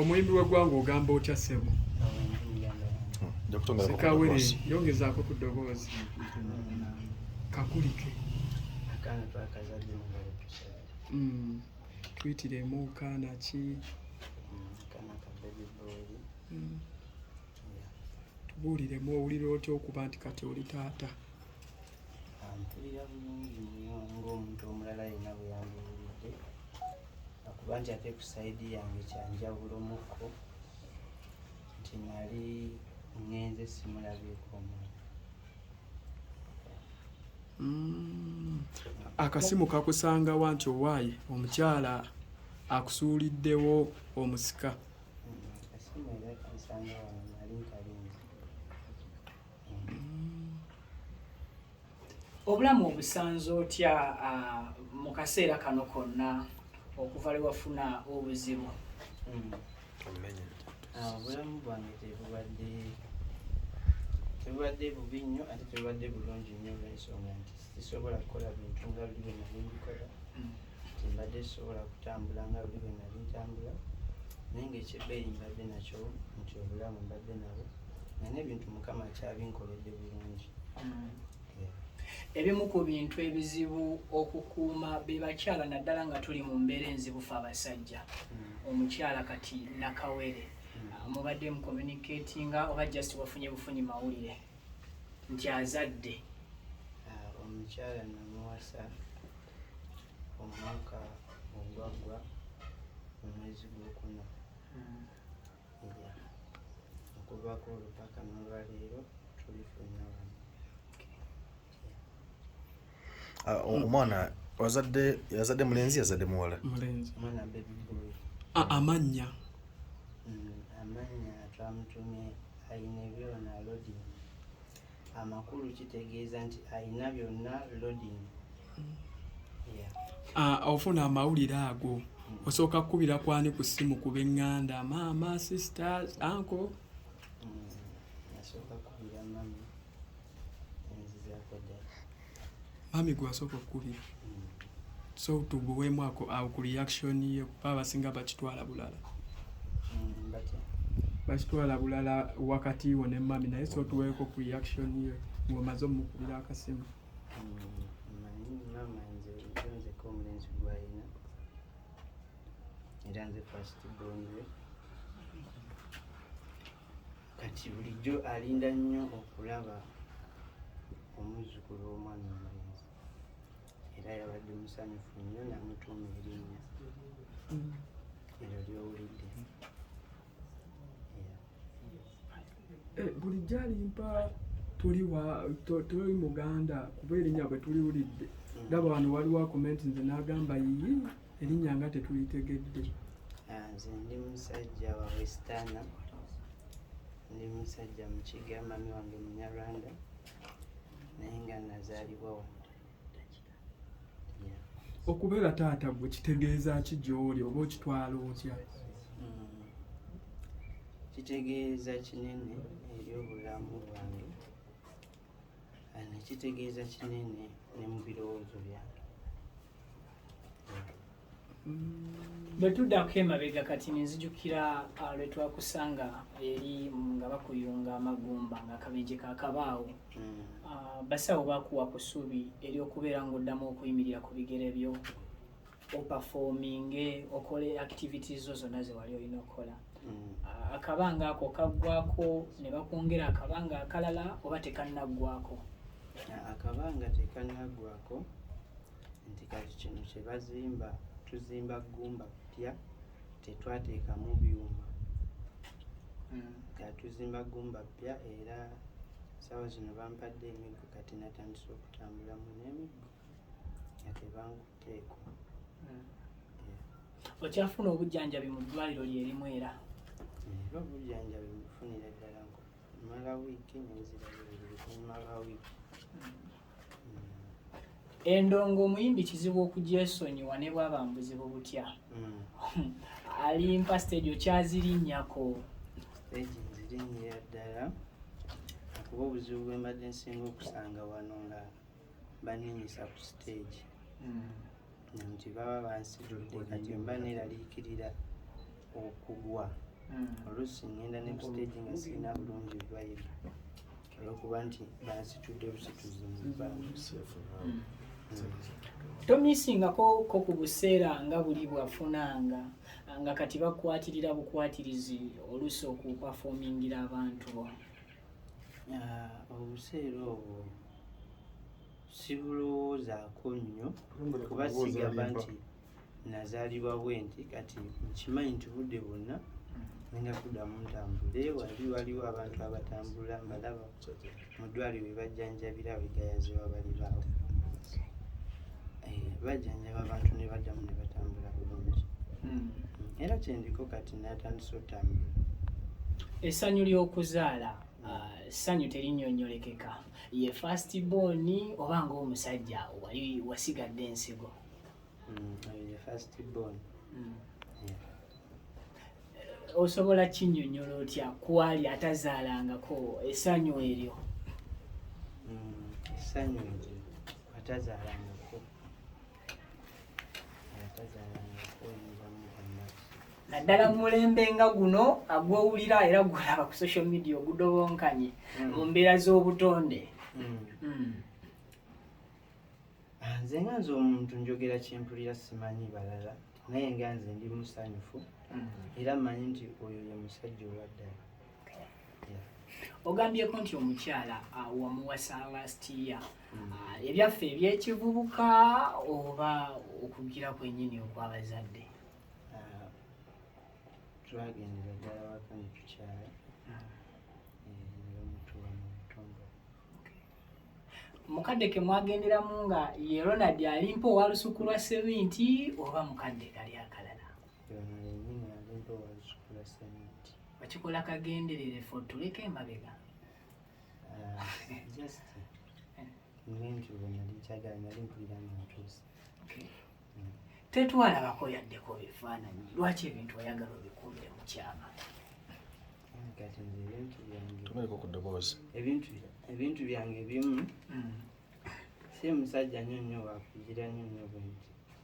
omuyimbi w'eggwanga ogamba otya ssebo sekawere yongezaako ku ddoboozi kakulike mm. tuyitiremu kaana ki mm. tubuuliremu owulira otya okuba nti kati oli taata mpulira bulungi nnyo ng'omuntu omulala yenna bwe yambiwulidde akuba nti ate ku sayidi yange kyanjawulo mukko nti nali ngenze simulabyeko omuntu mm. akasimu kakusangawa nti owaayi omukyala akusuuliddewo omusika mm, akasimu era kansangawa obulamu obusanze otya ah, mu kaseera kano konna okuva lwe wafuna obuzibu hmm. ah, obulamu bwange tebubadde tebubadde bubi nnyo ate tebubadde bulungi nnyo olwensonga nti sisobola kukola bintu nga buli bwe nali mbikola hmm. mbadde sobola kutambula nga buli bwe nali ntambula naye ngaekyebbeeyi mbadde nakyo nti obulamu mbadde nabo nga n'ebintu mukama akyabinkoledde bulungi mm. ebimu ku bintu ebizibu okukuuma be bakyala naddala nga tuli mu mbeera enzibu fe abasajja mm. omukyala kati nakawere mm. ah, mubadde mu communicatinga oba just wafunye bufunyi mawulire nti azadde ah, omukyala namuwasa omwaka ogwaggwa mu mwezi gwokuna hmm. okuvaako olupaka nolwaleero tuli fenna wano ah, omwana wazadde yazadde mulenzi yazadde muwala ah, amannya hmm, amannya twamutumye ayina ebyona alodinga amakulu kitegeeza nti alina byonna loading ah, ofuna amawulire ago mm. osooka kukubira kwani ku ssimu ku benganda maama sisters anko mm. mami gwasooka okukubira so tuguweemu ako awo ku reaction ye kuba abasinga bakitwala bulala mm, bakitwala bulala wakati wo ne mami naye so tuweeko ku reaction ye ng'omaze omukubira akasimu era nze fasiti bonwe kati bulijjo alinda nnyo okulaba omuzzukulu w'omwana omulenzi era yabadde musanyufu nnyo namutuuma erinnya eryo lyowulidde eh, bulijjo alimpa tuli wa tuli muganda kuba erinnya bwe tuliwulidde ndaba wano waliwo akomenti nze n'agamba yiyi Erinnya nga tetulitegedde. Ah, nze ndi musajja wa westana ndi musajja mukiga mami wange munyarwanda naye nga nazaalibwa wano okubeera taata gwe kitegeeza ki gy'oli oba okitwala otya hmm. kitegeeza kinene eri obulamu bwange nekitegeeza kinene ne mu birowoozo byange bwe tuddako emabega kati nenzijukira ah, lwe twakusanga eri nga bakuyunga amagumba nga akabenje kakabaawo hmm. ah, basawo bakuwa ku ssuubi eri okubeera ng'oddamu okuyimirira ku bigere byo opafominge okole activity zo zonna zewali olina okukola mm. akabanga ako kaggwako ne bakwongera akabanga akalala oba tekannaggwako akabanga tekannaggwako nti kati kino kye bazimba tuzimba ggumba ppya tetwateekamu byuma mm. nga tuzimba ggumba ppya era saawa zino bampadde emiggo kati natandise okutambulamu n'emiggo okyafuna obujjanjabi mu ddwaliro lyerimu era era obujjanjabi bufunira ddala mala wiiki nenziraumala wiiki endongo omuyimbi kizibu okugyesonyiwa ne bwaba mubuzibu butya hmm. alimpa stage okyazirinyako stage nzirinyira ddala kuba obuzibu bwembadde nsinga okusanga wano nga baninyisa ku siteegi mm. nti baba bansitudde kati mba neeraliikirira okugwa mm. oluusi ngenda ne ku siteegi nga sirina bulungi bibayiro olwokuba nti bansitudde busituzi mu bbanga tomisingako ko ku buseera nga buli bwafunanga nga kati bakwatirira bukwatirizi oluusi okupafomingira abantu obuseera obwo sibulowoozaako nnyo kuba sigamba nti nazaalibwa bwe nti kati nkimanyi nti budde bwonna nenda kuddamu ntambule wali waliwo abantu abatambula mbalaba mu ddwaliro webajjanjabira wegayaziwa balibaawo eh, bajjanjaba abantu ne baddamu ne batambula bulungi hmm. era kyendiko kati natandisa otambula essanyu ly'okuzaala ah, ssanyu terinyonyolekeka ye fast born oba ngaomusajja wali wasigadde ensigo hmm, ye fast born hmm. osobola kinyonyola otya kwali atazaalangako essanyu eryo essanyu eryo atazaalangako atazaalangako naddala mu mulembe nga guno agwowulira era gwolaba ku social media ogudobonkanye hmm. mu mbeera z'obutonde hmm. Hmm. Ah, nze nga nze omuntu njogera kyempulira simanyi balala naye nga nze ndi musanyufu era mmanyi nti oyo ye musajja owaddala ogambyeko nti omukyala ah, wamuwasa last year mm. ah, ebyaffe ebyekivubuka oba okugira kwenyini okwabazadde ah, twagendera ddala waka netukyala eh, mukadde ke mwagenderamu nga ye ronald alimpa owalusuku lwa seminti oba mukadde kali akalala okikola kagenderere fo tuleka emabega tetwalabako yaddeko bifaananyi lwaki ebintu oyagala obikumire mu kyama ebintu byange ebimu mm. si musajja nyo nyo wakugira nyo nyo bwenti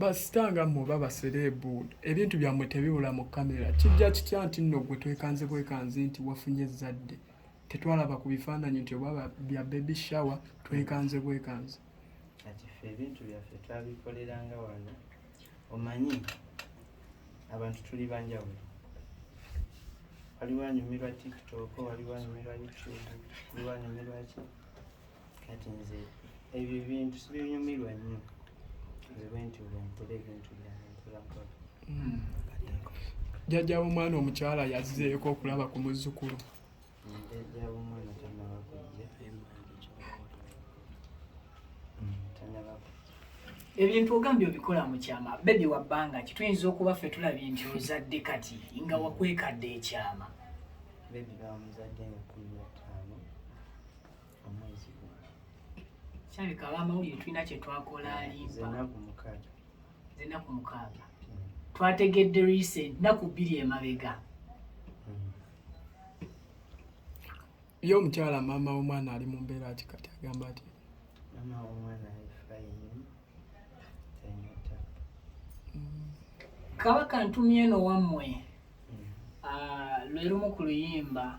basita nga mmwe oba basereebu ebintu byammwe tebibula mu kamera kijja kitya nti nno gwe twekanze bwekanzi nti wafunye ezzadde tetwalaba ku bifaananyi nti oba bya baby shower twekanze bwekanzi kati ffe ebintu byaffe twabikoleranga wano omanyi abantu tuli banjawulo waliwo anyumirwa tiktok waliwo anyumirwa youtube waliwo anyumirwa ki kati nze ebyo ebintu sibinyumirwa nnyo nze bwenti bwempula ebintu byanempulako hmm. jjajja w'omwana omukyala yazzeeko okulaba ku muzzukulu jjajja w'omwana tanaba kujja tanaba kujja ebintu ogambye obikola mu kyama bebi wa bbanga ki tuyinza okuba ffe tulabye nti ozadde kati nga wakwekadde ekyama bebi bamuzadde nga kumi na ttaano kirabika abamawulire tulina kye twakola alimbaenaku mukaaga hmm. twategedde recent naku bbiri emabega hmm. ye omukyala maama womwana ali mu mbeera ki kati agamba ati kabaka ntumye eno wammwe hmm. ah, lwerumu ku luyimba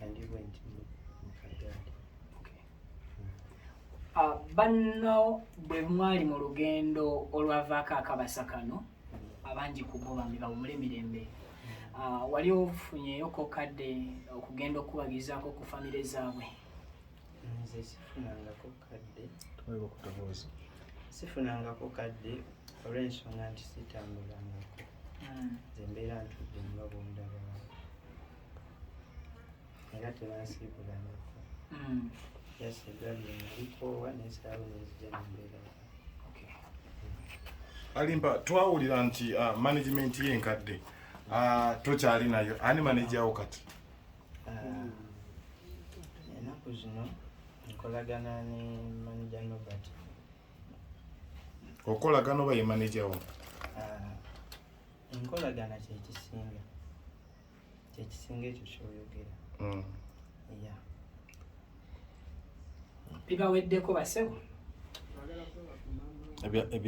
and you went in Mukadadi. Okay. Mm. Uh, banno bwe mwali mu lugendo olwavaako akabasa kano mm. abangi ku bo bambi bawumule emirembe mm. ah, wali ofunyeyo kokadde okugenda okukubagizaako ku famire zaabwe nze sifunangako kadde sifunangako kadde olw'ensonga nti sitambulangako nze mbeera ntudde nga bundaba era tebansiibulangako hmm. just egabi nalikoowa nesaawo nenzija nembeera alimba twawulira nti uh, management ye enkadde uh, tokyali nayo ani manajawo kati uh, enaku zino nkolagana ne manaja nobert okolagana oba ye manajawo enkolagana kyekisinga kyekisinga ekyo kyoyogera mm. ya bibaweddeko basebo